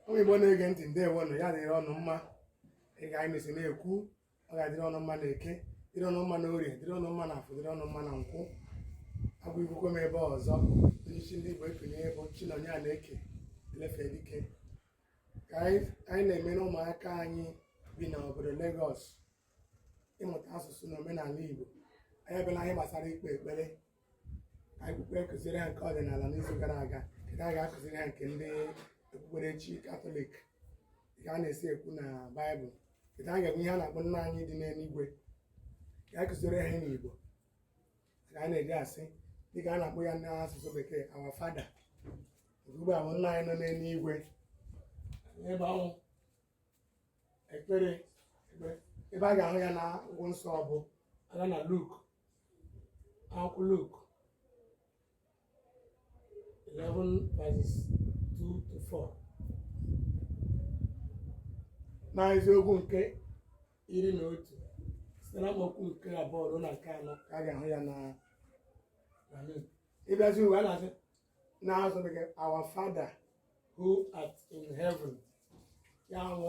ụmụ Igbo na-ege ntị ndeewo nụ ya dịrị unu mma dịka anyị mesi na-ekwu ọ ga-adịrị unu mma na eke dịrị unu mma na orie dịrị unu mma na afọ dịrị unu mma na nkwọ abụ ikwukwe m ebe ọzọ onyeisi ndị Igbo ekenye bụ Chinonye Anaeke Elefe Dike ka anyị na-emere ụmụaka anyị bi n'obodo Lagos ịmụta asụsụ na omenala Igbo anyị abịala n'ihe gbasara ikpe ekpere akwụkwọ a kụziri ha nke ọdịnala n'izu gara aga kịta a ga-akụziri ha nke ndị okpukperechi katọlik ka a na-esi ekwu na baịbụl nke a ga-enwe ihe a na-akpọ nna anyị dị n'eluigwe ka a kụziri ha n'igbo ka a na-eji asị dịka a na-akpọ ya n'asụsụ bekee our father ugbu a bụ nna anyị nọ n'eluigwe ebe ọ bụ ekpere ebe a ga-ahụ ya na akwụkwọ nsọ bụ a gaa na luk akwụkwọ Luk 11 verses 2 to 4 na isiokwu nke iri na otu site na amaokwu nke abụọ ruo na nke anọ ka a ga-ahụ ya na ị bịazie ebe a na-asị n'asụsụ bekee our father who art in heaven ya bụ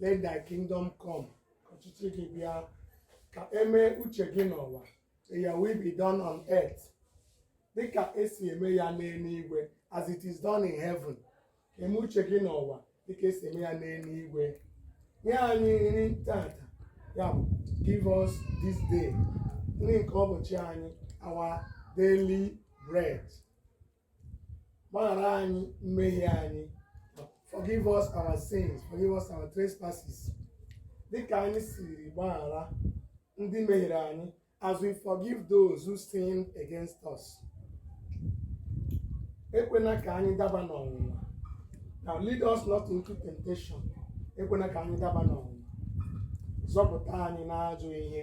let thy kingdom come ka ọchịchị gị bịa ka emee uche gị n'ụwa may your will be done on earth dịka esi eme ya n'eluigwe as it is done in heaven ka eme uche gị n'ụwa dịka esi eme ya n'eluigwe nye anyị nri tata ya bụ give us this day nri nke ụbọchị anyị our daily bread gbaghara anyị mmehie anyị forgive us our sins forgive us our trespasses dịka anyị siri gbaghara ndị mehiere anyị as we forgive those who sin against us ekwena ka anyị daba n'ọnwụnwa and lead us not into temptation ekwena ka anyị daba n'ọnwụnwa zọpụta anyị n'ajọ ihe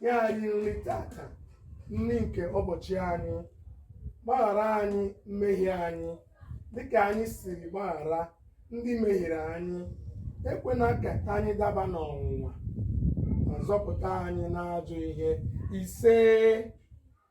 nye anyị nri tata nri nke ụbọchị anyị gbaghara anyị mmehie anyị dịka anyị siri gbaghara ndị mehiere anyị ekwena ka anyị daba n'ọnwụnwa ma zọpụta anyị n'ajọ ihe isee